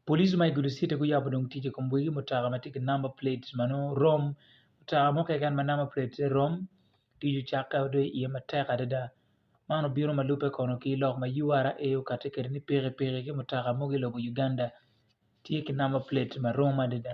Police ma i gudo citi guyabo dong tic i kom wegi mutoka ma tye ki number plate ma nongo rom mutoka mo keken ma number plate ne rom tic ocakke wa dong iye matek adada man obino ma lube kono ki lok ma ura okati kede ni piki piki ki mutoka mogo i lobo Uganda tye ki number plate ma rom adada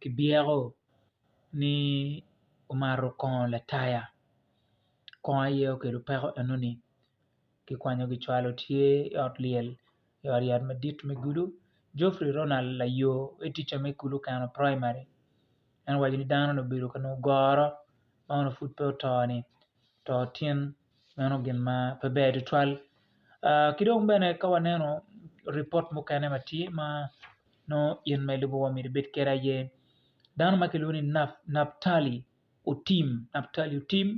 Kibyeko ni omato kongo lataya kongo aye okelo peko enoni kikwanyo kicwalo tye i ot lyel i ot yat madit me kulu Geoffrey Ronald Layo ma ticca me kulu Keno Primary en owaco ni dano ni obedo ka nongo goro ma onongo pud pe oto-ni oto tin meno gin ma pe ber tutwal ki dong bene ka waneno ripot mukene ma tye ma nongo in ma ilubo wa myero ibed kwede aye dano ma kilwongo ni Naptali Otim, Naptali Otim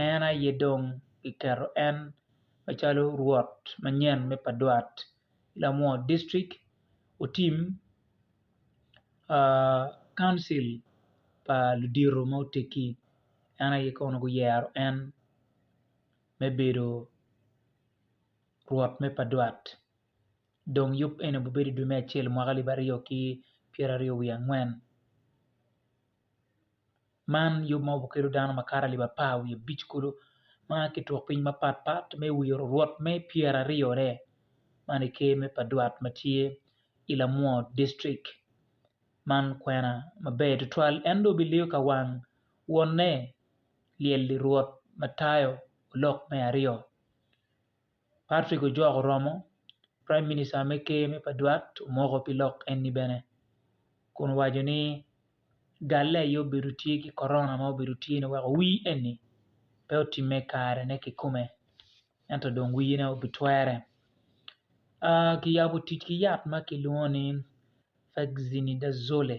en aye dong kiketo en macalo rwot manyen me pa dwot. ki lamor dictric otim kauncil pa ludito ma otegi en aye kono guyero en me bedo rwot me padwat dong yub eni obibedo i dwe me acel mwaka alib aryo ki pyeraryo wiye angwen man yub ma kelo dano makato alip apar wiye abic kulu ma aa ki turk piny mapat pat me wiye orurwot me pyeraryo ne man i ker me pa dwat ma tye i lamwo dictrik man kwena maber tutwal en dong biliyo ka wang wonne lyel lirwot matayo lok me aryo Patrick ojok oromo, Praim Minista me Ker me Padwat omoko pi lok enni bene kun owaco ni galle aye obedo tye ki Corona ma obedo tye ni weko wir enni pe otimme i kare ne kikome ento dong wir ne obitwere. Kiyabo tic ki yat ma kilwongo ni Fexinidazole.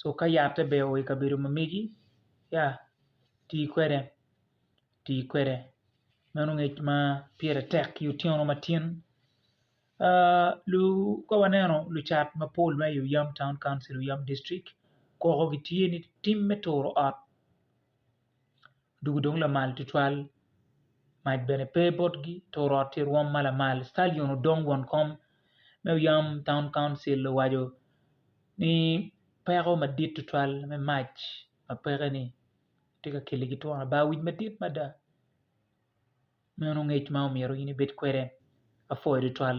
cuka yatte ber wa i kabedo ma megi ya ti kwede ti kwede meno ngec ma pire tek ki otyeno matin ka waneno lucat mapol ma i oyam taun kauncil oyam dictric koko gitye ni tim me turo ot dul dong lamal tutwal mac bene pe botgi to orot tye rwom ma lamal citalion odong won kom me yam taun kauncil owaco ni peko madit tutwal me mac ma pekeni tye ka keligi twon aba wic madit mada meno ngec ma omyero in ibed kwede apuo tutwal.